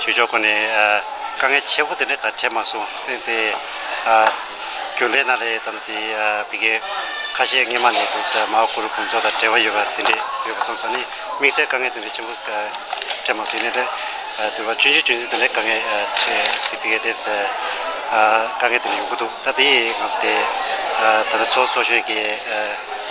ཆོས་ཕྱོགས་ཁོ་ནས་དཀའ་ངལ་ཆེ་པོ་དེ་འདྲ་ག་འཕྲད་མ་སོང། དེ་དེ་རྒྱུན་ལས་ན་རེ་དང་དེ་བི་གའི་ཁ་ཤས་སྔས་མ་ནས་དུ་ས་མའོ་གུ་རུ་ཕུན་ཚོགས་དང་འབྲེལ་བ་ཡོད་པ་དེ་འདྲས་ཡོད་པ་སོང་ཙང་ནི་དམིགས་བསལ་དཀའ་ངལ་དེ་འདྲ་ཆེན་པོ་ག་འཕྲད་མ་སོང་ཡིན་ན་དེ་དེ་བ་ཅུན་ཅུན་ཅུན་ཅུན་དེ་འདྲས་དཀའ་ངལ་འཕྲད་དེ་བི་གའི་དེ་ས་དཀའ་ངལ་དེ་འདྲ་ཡོང་གི་འདུག་ད་དེ་ཡིས་ང་ཚོ་དེ་ད་ལྟ་ཚོགས་གཙོ་གཞོན་གྱི།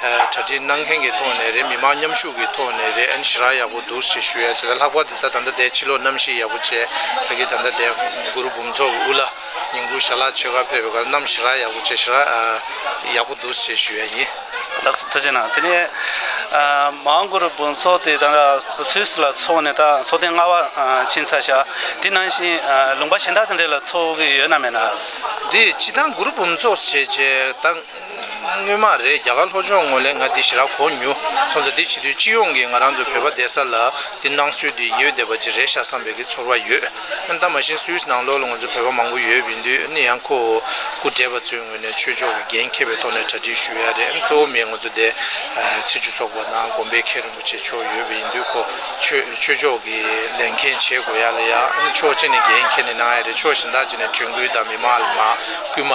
གྲ་སྒྲིག་གནང་མཁན་གྱི་ཐོག་ནས་རེད་མི་མང་མཉམ་ཞུགས་ཀྱི་ཐོག་ནས་རེད་ཨན་ཞི་རག་ཡག་པོ་འདུག་ཞེས་ཞུ་ཡ་བྱེད་ད་ལྷག་པར་དུ་ད་ད་ལྟ་དེ་ཕྱི་ལོག་གནམ་གཤིས་ཡག་པོ་བྱས་ད་གི་ད་ལྟ་དེ་གུ་རུ་འབུམ་ཚོགས་དབུ་བླ་ཉིང་ཁུ་ཞྭ་ལག་ཆོས་སྒར་ཕེབས་པའི་ཁར་གནམ་ཞི་རག་ཡག་པོ་བྱས་ཞི་རག་ཡག་པོ་འདུག་ཞེས་ཞུ་ཡ་ཡིན། ལགས་སུ་ཐུགས་རྗེ་གནང་དེ་ནས་མང་གུ་རུ་འབུམ་ཚོགས་དེ་ད་སུད་སི་ལ་འཚོགས་ནས་ད་འཚོགས་ཐེངས་ལྔ་བ་ཕྱིན་ཚར་ཞག་དེ་ནང་བཞིན་ལུང་པ་གཞན་དག་དེ་འདྲ་ལ་འཚོགས་ཀྱི་ཡོད་ན་མེད་ན། འདི་ཕྱི་ད་གུ་རུ་འབུམ་ཚོགས་བྱས་རྗེས་ད། སྣོན་མ་རེད་རྒྱ་གར་ལྷོ་ཕྱོགས་ངོས་ལས་ང་འདི་ཞི་རག་གོ་མྱུ་སོང་ཚེ་འདི་བྱེད་དུས་སྤྱི་ཡོངས་ཀྱི་ང་རང་ཚོ་བོད་པ་བསྡད་ས་ལ་འདི་གནང་སྲོལ་དུ་ཡོད་བསྡད་པ་ཅིག་རེད་ཤག་བསམ་པའི་གི་ཚོར་བ་ཡོད་ཨེ་འདའ་མ་གཞི་སུའུས་ནང་ལོགས་ལ་ང་ཚོ་བོད་པ་མང་པོ་ཡོད་བིན་དུས་ནི་ཡང་ཁོ་བོ་སྐུ་བགྲེས་པ་ཚོའི་ངོས་ནས་ཆོས་ཕྱོགས་ཀྱི་འགན་ཁྱེར་བའི་ཐོག་ནས་གྲ་སྒྲིག་ཞུ་ཡག་རེད་གཙོ་བོ་མི་ང་ཚོ་འདས་ཚེ་ཆུ་ཚོགས་པ་དང་དགོན་པའི་མཁན་རིན་པོ་ཆེ་མཆོག་ཡོད་བིན་དུས་ཁོ་ཆོས་ཆོས་ཕྱོགས་ཀྱི་ལས་མཁན་བྱེད་དགོ་ཡག་ལ་ཡག་ཨེ་འདའ་ཕྱོགས་གཅིག་ནས་འགན་ཁྱེར་ནས་གནང་ཡག་རེད་ཕྱོགས་གཞན་དག་ཅིག་ནས་དྲན་སྐུལ་དང་མི་མང་ལ་མ་སྐུལ་མ།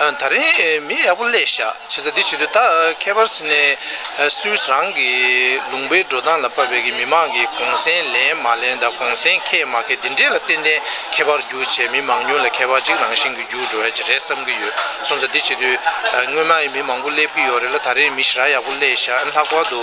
ད་རིང་མི་ཡག་པོ་ཀླད་ཞགས་བྱེད་ས་འདི་བྱེད་དུས་ད་ཁྱད་པར་སི་ནེ་སུས་རང་གི་ལུང་པའི་འགྲོ་སྟངས་ལ་བབས་པའི་མི་མང་གིས་གོང་སེང་ལེན་མ་ལེན་དང་གོང་སེང་ཁེས་མ་ཁེས་འདི་འདྲས་ལ་ཏན་ཏན་ཁྱད་པར་རྒྱུག་བྱས་མི་མང་ཉུང་ལ་ཁྱད་པར་གཅིག་རང་བཞིན་གྱི་རྒྱུག་འགྲོ་ཡ་གཅིག་རེད་བསམ་གྱི་ཡོད་སོང་ཙང་འདི་བྱེད་དུས་སྔོན་མ་ཡི་མི་མང་པོ་སླེབས་ཀྱི་ཡོད་རེད་ལ་ད་རིང་མི་ཞི་ར་ཡག་པོ་ཀླད་ཞགས་ལྷག་པར་དུ།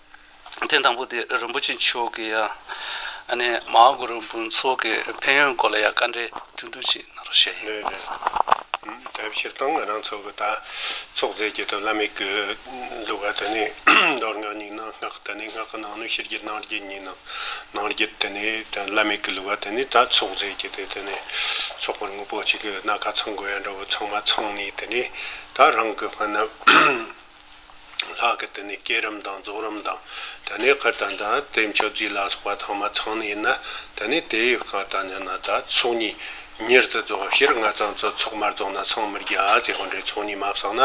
ཐེངས་དང་པོ་དེ་རིན་པོ་ཆེ་མཆོག་གིས་ཡང་མ་ཧཱ་གུ་རུ་འབུམ་ཚོགས་ཀྱི་ཕན་ཡོན་སྐོར་ལ་ཡང་བཀའ་འགྲེལ་དུས་འདུ་བྱས་གནང་རོགས་ཞུ་ཡི་ཡོད། དེ་ཕྱིར་དང་ང་རང་ཚོ་གི་ད་ཚོགས་རྫས་ཀྱི་དོ་བླ་མེད་གི་གླུ་ག་དེ་ནི་མདོར་སྔགས་ཉིད་ནང་སྔགས་དེ་ནི་སྔགས་ཀྱི་ནང་ནི་ཕྱི་རྒྱུད་ནང་རྒྱུད་གཉིས་ནང་ནང་རྒྱུད་དེ་ནི་དོན་བླ་མེད་གི་གླུ་ག་དེ་ནི་ད་ཚོགས་རྫས་ཀྱི་དེ་དེ་ནི་ཚོགས་པར་དངོས་པོ་གཅིག་གི་ན་ག་ཚང་དགོས་ཡ་འདྲ་བོ་ཚང་མ་ཚང་ནས་དེ་ནི་ད་རང་གི་དཔོན་ནི། ལྷག་གི་དེ་ནས་སྐྱེད་རིམ་དང་རྫོགས་རིམ་དང་དེ་ནས་ཁུ་དང་དང་དེ་མཆོད་རྫས་ལ་སོགས་པ་ཚང་མ་ཚང་ནས་ཡིན་ན་དེ་ནས་དེའི་བཀའ་དང་ནི་ན་ད་ཚོགས་གཉིས་མྱུར་དུ་རྫོགས་པ་ཕྱིར་ལྔ་ཙམ་ཚོ་ཚོགས་མ་རྫོགས་ན་ཚང་མར་རྒྱ་བཟའི་དབང་འབྲས་ཚོགས་གཉིས་མ་བསགས་ན་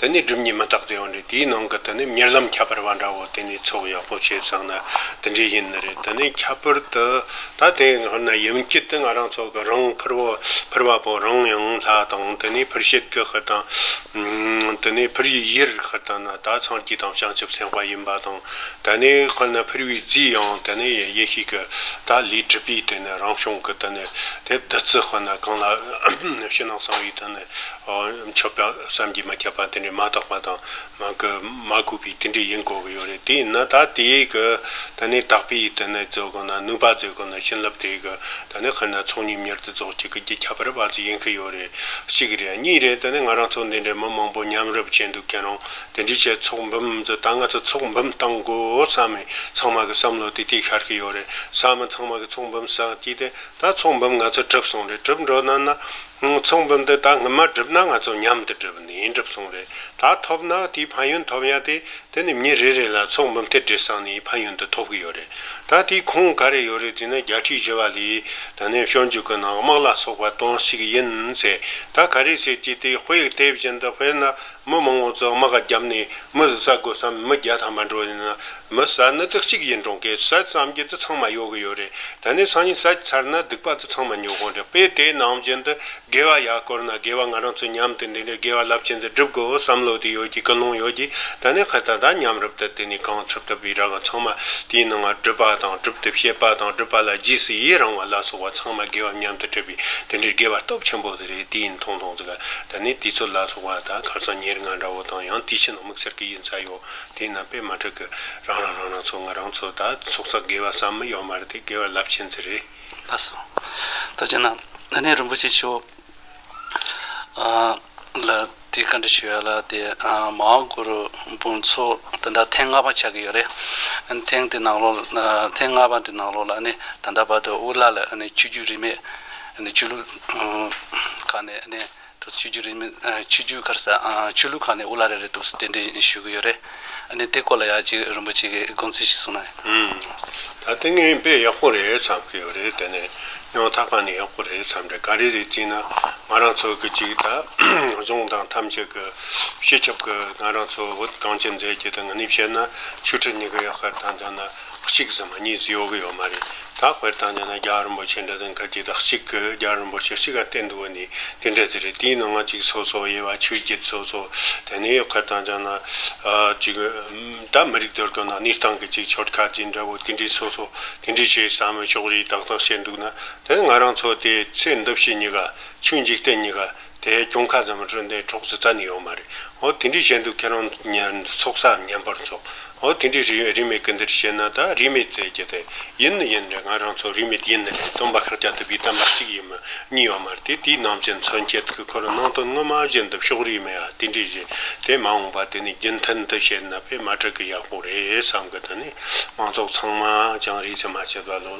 དེ་ནས་སྒྲིབ་གཉིས་མི་རྟག་རྫས་དབང་འབྲས་དེའི་ནང་གི་དེ་ནས་མྱུར་ལམ་ཁྱད་པར་བ་འདྲ་བོ་དེ་ནས་ཚོགས་ཡག་པོ་བྱས་བསགས་ན་དེ་འདྲའི་ཡིན་ནི་རེད་དེ་ནས་ཁྱད་པར་དུ། ད་དེའི་སྔོན་ན་ཡུམ་སྐྱིད་དེ་ང་རང་ཚོ་གི་རང་ཕུར་བུ་ཕུར་བ་པོ་རང་ཡང་ལྷ་དང་དེ་ནས་ཕུར་ཞིག་གི་ཤི་དང། དེ་ནས་ཕུར་བུའི་ཡིར་ཤི་དང་ན་ད་ཚང་སྐྱིད་དང་བྱང་ཆུབ་སེམས་དཔའ་ཡིན་པ་དང་དེ་ནས་སྔོན་ན་ཕུར་བུའི་རྫིས་ཡང་དེ་ནས་ཡེ་ཤེས་ཀྱི་ད་ལུས་གྲུབ་པའི་དེ་ནས་རང་བྱུང་གི་དེ་ནས་དེ་བདུད་རྩི་སྔོན་ན་གང་ལ་ཕྱི་ནང་གསང་བའི་དེ་ནས་མཆོད་པ་བསམ་གྱིས་མི་ཁྱབ་པ་དེ་ནས་མ་དག་པ་དང་མང་གི་མ་གོ་བའི་དེ་འདྲའི་ཡིན་གོ་གི་ཡོད་རེད་དེ་ཡིན་ན་ད་དེའི་གི་ད་ནི་དག་པའི་དེ་ནི་རྫོགས་གོ་ན་ནུས་པ་རྫོགས་གོ་ན་བྱིན་རླབས་དེ་གི་ད་ནི་ཧེ་ན་ཚོགས་གཉིས་མྱུར་དུ་རྫོགས་བྱེད་ཀི་རྒྱུ་ཁྱད་པར་བ་ཚོ་ཡིན་གི་ཡོད་རེད་གཅིག་རེད་གཉིས་རེད་ད་ནི་ང་རང་ཚོ་འདི་འདྲའི་མི་མང་པོ་མཉམ་རུབ་བྱས་འདུག་ཁྱེད་རང་དེ་འདྲའི་བྱས་ཚོགས་འབུམ་ཚོ་ད་ང་ཚོ་ཚོགས་འབུམ་གཏང་དགོ་བསམ་མི་ཚང་མ་གི་བསམ་བློ་དེ་དེ་ཤར་གི་ཡོད་རེད་བསམ་མི་ཚང་མ་གི་ཚོགས་འབུམ་བསགས་ཀྱིས་དེ་ད་ཚོགས་འབུམ་ང་ཚོ་གྲུབ་སོང་རེད་གྲུབ་འགྲོ་ན་ན། ངོ་མཚུངས་འབུམ་དུ་ད་སྔོན་མ་བསྒྲུབས་ན་ང་ཚོ་མཉམ་དུ་བསྒྲུབས་ནས་འགྲུབ་སོང་རེད་ད་ཐོབ་ན་དེའི་ཕན་ཡོན་ཐོབ་ཡ་དེ་དེ་ནི་མྱི་རེ་རེ་ལ་མཚུངས་འབུམ་ཐེར་འབྲས་སང་ནི་ཕན་ཡོན་དུ་ཐོབ་གི་ཡོད་རེད་ད་དེའི་ཁུངས་ག་རེ་ཡོད་རེད་ཟེར་ན་བརྒྱ་ཁྲི་བཞི་བ་ལས་ད་ནས་ཤོར་འཇུག་གི་ནང་དམག་ལ་སོགས་པ་གཏོང་ཤིག་ཡིན་ཟེར་ད་ག་རེ་བྱེད་ཀྱི་དེ་དཔེ་དེ་བཞིན་དུ་དཔེར་ན་མི་མང་བོ་ཚོས་དམག་ག་བརྒྱབ་ནས་མི་བཟི་ས་དགོས་སམ་མི་བརྒྱ་ཐམ་པ་འགྲོ་ཡིན་ན་མི་ཟ་ནི་དེ་གཅིག་ཡིན་གྲོང་ཁའི་ཟས་ཙམ་གྱི་དུད་ཚང་མ་ཡོད་གི་ཡོད་རེད་ད་ནས་སང་ཉིན་ཟས་ཀྱི་ཚར་ན་སྡིག་པ་དུད་ཚང་མ་ཉོ་གོང་དྲན་པས་དེ་ནང་བཞིན་དུ་དགེ་བ་ཡག་བསྐུར་ན་དགེ་བ་ང་རང་ཚོས་མཉམ་དུ་འདི་འདྲའི་དགེ་བ་རླབས་ཆེན་འདི་སྒྲུབ་དགོས་བསམ་བློ་དེ་ཡོད་ཀྱི་ཀུན་སློང་ཡོད་ཀྱི་ད་ནས་ཁ་ད་ད་མཉམ་རུབ་ཏུ་དེ་ནས་གང་ཐུབ་ཐུབ་པའི་ར་ག་ཚང་མ་དེའི་ནང་ང་སྒྲུབ་པ་དང་སྒྲུབ་ཐབས་བཤད་པ་དང་སྒྲུབ་པ་ལ་རྗེས་སུ་ཡི་རང་བ་ལ་སོགས་བ་ཚང་མ་དགེ་བ་མཉམ་དུ་སྤྲད་པའི་དེ་འདྲའི་དགེ་བ་སྟོབས་ཆེན་པོ། རེད་དེ་ཡིན་ཐོང་ཐོང་ཟིག་ད་ནི་དེ་ཚོ་ལ་སོགས་པ་ད་གར་ཚང་ཉེར་ལྔ་འདྲ་བོ་དང་ཡང་དེ་ཕྱི་ནང་དམིགས་བསལ་གི་ཡིན་ས་ཡོད་དེ་ན་པད་མ་དྲུག་གི་རང་རང་རང་རང་ཚོ་ང་རང་ཚོ་ད་ཚོགས་ཚགས་དགེ་བ་བསམ་མི་ཡོང་བར་དེ་དགེ་བ་རླབས་ཆེན་ཚེ་རེད། ལྷ་སོ། ད་ཅི་ན་ད་ནི་རིན་པོ་ཆེ་ཆོས། ལ། དེ་ག་འདྲ་ཞིག་ཡོད་ལ་དེ་མ་འོངས་གུ་རུ་དཔོན་ཚོ་དེ་འདྲ་ཐེངས་ལྔ་པ་ཆགས་ཀྱི་ཡོད་རེད། ཐེངས་དེ་ནང་ལོགས་ལ་ཐེངས་ལྔ་པ་དེ་ནང་ལོགས་ལ་ནི་ད་ལྟ་བར་དུ་དབུ་བླ་ལ་ནི་ཆོས་རྒྱུད་རིས་མེད་ཆོས་ལུགས་ཁག་ནས་ནི་ཆོས་རྒྱུད་རིས་མེད་ཆོས་རྒྱུད་ཁར་ས་ཆོས་ལུགས་ཁག་ནས་དབུ་བླ་རེ་རེ་འདུག་དེ་འདྲ་ཞུས་ཀྱི་ཡོད་རེད། ཨ་ནི་དེ་སྐོར་ལ་ཡག་ཅིག་རིན་པོ་ཆེ་གིས་དགོངས་ཚུལ་ཞིག་གསུངས་ན། ཧུམ། ད་ལྟ་ངའི་དཔེ་ཡག་པོ་རེད་བསམ་གི་ཡོད་རེད་དེ་ནས་ཉོག་ཐག་པ་ནི་ཡག་པོ་རེད་བསམ་རེད་ག་རེ་རེད་ཅིག་ན་ང་རང་ཚོ་གི་ཅིག་ད་གཟུང་དང་ཐམས་ཅད་གི་ཤེས་ཁྱབ་གི་ང་རང་ཚོ་བོད་གངས་ཅན་མཛེས་རྒྱལ་དང་ནི་བཤད་ན་ཆུ་ཁྲི་གཉིས་ཀ་ཡག་ཤར་དང་ཀྱང་ན། གཅིག་གཟིགས་མ་གཉིས་གཟིགས་ཡོང་གི་ཡོད་མ་རེད་ད་དཔེར་བཏང་ཀྱང་ན་རྒྱ་རིན་པོ་ཆེ་འདྲ་དང་ག་གྱི་དག་གཅིག་གི་རྒྱ་རིན་པོ་ཆེ་གཅིག་ག་བསྟན་འདུག་བ་ནི་འདི་འདྲ་དེ་རེད་དེའི་ནང་ང་གཅིག་སོ་སོ་དབྱེ་བ་ཆོས་བརྒྱུད་སོ་སོ་དེ་ནས་ཡོད་ཁར་བཏང་ཀྱང་ན་གཅིག་ད་མི་རིགས་དོར་དོ་ན་གནས་སྟངས་གི་གཅིག་ཆོལ་ཁ་གཅིག་འདྲ་བོ་དེ་འདྲའི་སོ་སོ་དེ་འདྲའི་བྱས་བསམ་མི་ཆོག་རེད་དག་དག་བྱས་འདུག་ན་དེ་ནི་ང་རང་ཚོ་དེ་ཚེ་འདི་ཕྱི་གཉིས་ཀ་ཆུ་འཇིག་རྟེན་གཉིས་ཀ་དེ་གྱོང་ཁ་ཙམ་སྤྲོད་འདོད་གྲོགས་སུ་གཏན་ནས་ཡོད་མ་རེད་འོ་དེ་འདྲའི་བྱས་འདུག་ཁྱེད་རང་ཚོགས་ས་ཉམས་པར་འཚོགས་འོ་དེ་འདྲའི་རིས་མེད་ཀི་འདིར་བྱས་ན་ད་རིས་མེད་ཟེར་གྱི་དེ་ཡིན་ནི་ཡིན་རེད་ང་རང་ཚོ་རིས་མེད་ཡིན་ནི་རེད་སྟོན་པ་ཁག་ཅག་དེ་བས་གཏམ་པ་གཅིག་ཡིན་མི་གཉིས་ཡོད་མ་རེད་དེ་དེའི་ནང་བཞིན་མཚོན་བྱེད་ཀི་ཁོ་རང་ནང་དོན་དངོས་མ་བཞིན་འདུག་ཕྱོགས་རིས་མེད་ཨ་དེ་འདྲའི་བཞིན་དེ་མ་འོངས་པ་དེ་ནི་རྒྱུན་མཐུད་འདི་བྱས་ན་ཕེ་མ་དྲག་གི་ཡག་པོ་རེད་བསམ་གི་འདི་ནི་མང་ཚོགས་ཚང་མ་ཀྱང་རིས་ཙམ་མ་བྱས་པ་ལོ།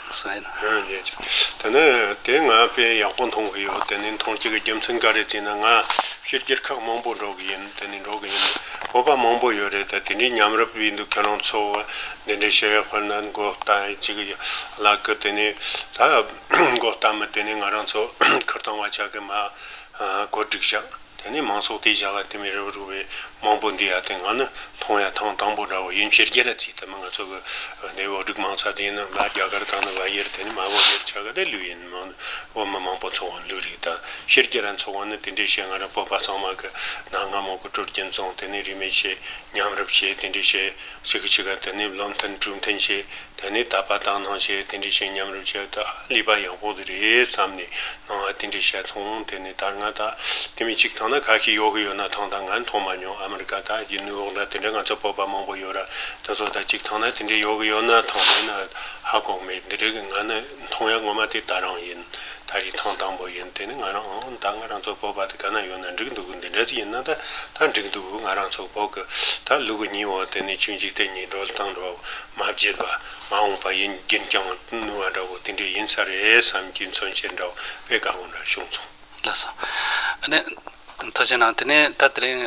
དེ་ནས་དེ་ང་དཔེ་ཡག་པོ་མཐོང་གི་ཡོད་དེ་ནས་མཐོང་སྐྱེ་གི་རྒྱུ་མཚན་ག་རེ་བྱས་ན་ང་ཕྱིར་སྒྱེར་ཁག་མང་པོ་འགྲོ་གི་ཡིན་དེ་ནས་འགྲོ་གི་ཡིན་བོད་པ་མང་པོ་ཡོད་རེད་ད་དེ་འདྲའི་ཉམས་རབ་ཡིན་འདུག་ཁྱེད་རང་ཚོ་འདི་འདྲའི་བཤད་ཡག་ཁོ་ན་མགོ་བལྟ་ཅིག་བླ་ཀི་དེ་ནས་ད་མགོ་བལྟ་མི་དེ་ནས་ང་རང་ཚོ་ཁིར་བཏང་བ་ཆག་གི་མ་གོ་སྒྲིག་བྱ། དེ་ནས་མང་ཚོགས་དེའི་བྱ་དགའ་དེ་མི་རབས་རུ་བའི་མང་པོ་འདུས་ཡ་དེ་སྔ་ནི་མཐོང་ཡ་ཐང་དང་པོ་འདྲ་བ་ཡུན་ཕྱིར་རྒྱལ་ར་ཚིག་དེ་མི་ང་ཚོ་གི་ནས་བོད་རིགས་མང་ཚ་དེ་ཡིན་ན་འགའ་རྒྱ་གར་དང་ནི་འགའ་ཡེར་དེ་ནི་མ་བོད་ཡེར་ཆ་ག་དེ་ལུས་ཡིན་མང་ནི་བོད་མི་མང་པོ་འཚོ་བ་ལུས་རིགས་དང་ཕྱིར་རྒྱལ་ར་འཚོ་བ་ནི་དེ་འདྲའི་བྱེད་ང་རང་བོད་པ་ཚང་མ་གི་ནང་སྔ་མོ་གི་དྲོད་རྒྱུན་བཙོང་དེ་ནི་རིས་མེད་བྱེད་ཉམས་རབ་བྱེད་དེ་འདྲའི་བྱེད། ཕྱི་གི་ཕྱི་ག་དུ་ནི་བློ་མཐུན་གྲུབ་མཐུན་ཞེས་དེ་ནི་ད་བར་དང་སྣང་བྱེད་དེ་འདྲའི་ཞིང་མཉམ་རུབ་བྱས་ཏེ་ཨ་ལི་པ་ཡག་པོ་དེ་རེད་བསམ་ནས་སྣང་བ་དེ་འདྲའི་བཤད་མཚུངས་དེ་ནི་དར་ནག་དག་དེ་མི་གཅིག་ཐང་ན་ཁ་ཤས་ཡོག་གི་ཡོད་ན་ཐང་དང་ང་མཐོང་མ་མྱོང་ཨ་མི་རི་ཀ་དག་གི་ནུ་ཡོག་འདྲ་དེ་འདྲ་ང་ཚོ་བོད་པ་མང་པོ་ཡོད་ར་དེ་ཚོ་དག་གཅིག་ཐང་ན་དེ་འདྲའི་ཡོག་གི་ཡོད་ན་ཐང་མེད་ན་ཨ་གོག་མེད་འདི་རེད་ང་ནི། མཐོང་ཡ་ངོ་མ་དེ་ད་རང་ཡིན། ད་རིག་ཐང་དང་པོ་ཡིན་དེ་ནི་ང་རང་ཨང་ད་ང་རང་ཚོ་བོད་པ་དེ་ག་ན་ཡོད་ན་འགྲིག་འདུག་འདི་འདྲ་ཅིག་ཡིན་ན་ད་ད་འགྲིག་འདུག་ང་རང་ཚོ་བོད་གི་ད་ལུག་གི་སྙིང་བོ་དེ་ནི་ཆུ་འཇིག་རྟེན་གཉིས་འགྲོ་སྟངས་འགྲོ་མ་བརྗེད་པ་མ་འོངས་པ་ཡིན་རྒྱུན་བསྐྱང་ནུས་བ་འདྲ་བོ་དེ་འདྲས་ཡིན་ས་རེད་བསམ་རྒྱུ་མཚོན་བྱེད་འདྲ་བོ་དཔེ་དགའ་བོ་འདྲ་བྱུང་སོང། ལགས་སོ། ཨ་ནི། ཐུགས་ཆེ་གནང་དེ་ནས་ད་དེ་རིང།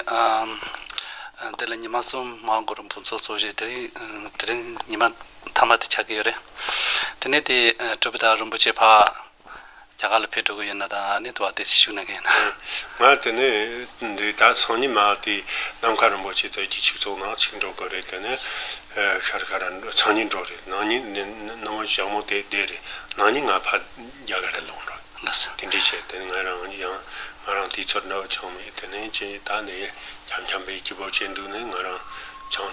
དེ་ལ་ཉི་མ་གསུམ་མ་འགོར་བར་འབུམ་ཚོགས་གཙོ་བཞེས་དེ་རིང་དེ་རིང་ཉི་མ། མཐའ་མ་དེ་ཆགས་ཀྱི་ཡོད་རེད། དེ་ནས་དེ་གྲུབ་པའི་ཐག་རིན་པོ་ཆེ་ཕག་རྒྱ་གར་ལ་ཕེབས་འགྲོ་གི་ཡོད་ན་ད་ནས་དུ་བ་དེ་ཞུ་གནང་གི་ཡིན། ང་དེ་ནས་འདི་ད་སང་ཉིན་མ་དེ་ནམ་མཁའ་རིན་པོ་ཆེ་དེ་གྱི་ཕྱུགས་ཚོགས་ནང་ཕྱིན་འགྲོ་གི་རེད་དེ་ནས་ཤར་ཁ་ར་ཚང་ཉིན་འགྲོ་རེད་ནང་ཉིན་ནས་སྣང་བ་ཞག་མོ་དེ་བསྡད་རེད་ནང་ཉིན་ང་ཕག་རྒྱ་གར་ལ་ལོག་འགྲོ་དེ་འདྲས་བྱས་དེ་ནས་ང་རང་ཡང་ང་རང་དེ་ཚོར་འདྲ་བ་ཆང་མེད་དེ་ནས་ཅི་ད་ནས་འཁྱམ་འཁྱམ་པའི་སྐྱི་བོ་ཅན་འདུག་ནས་ང་རང་ཆང་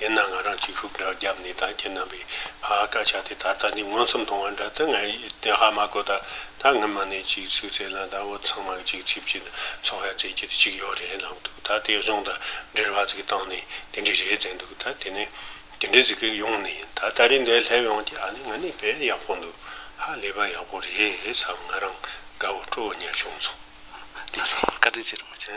ཡིན་ན་ང་རང་གཅིག་ཤུགས་དྲག་རྒྱབ་ནས་ད་ཁྱེད་རྣམ་པའི་ཧ་ཧ་སྐད་ཆ་དེ་ད་ལྟ་ནས་མངོན་སུམ་མཐོང་བ་འདྲ་སྟེ་ངས་དེ་ཧ་མ་གོ་ད་ད་སྔོན་མ་ནས་གཅིག་ཚིག་བཙལ་ན་ད་འུ་ཚང་མ་གཅིག་ཚིག་གཅིག་ཚོགས་ཧ་བཙལ་གྱི་གཅིག་ཡོད་རེད་ལབ་འདུག་ད་དེ་གཞུང་ད་འདྲེར་ཧ་ཚིག་བཏང་ནས་དེ་འདྲས་རེད་ཟེར་འདུག་ད་དེ་ནས་དེ་འདྲས་ཟིག་ཡོང་ནས་ད་ད་རེས་འདས་སླེབས་ཡོང་གི་ཨ་ནི་ང་ནི་བལ་ཡག་པོ་འདུག་ཧ་ལས་པ་ཡག་པོ་རེད་བསམ་ང་རང་དགའ་བོ་སྤྲོ་བོ་ཉལ་བྱུང་ཚོ་དེ་རེད། བཀའ་དྲིན་ཆེ་རུ་མི་ཆེ།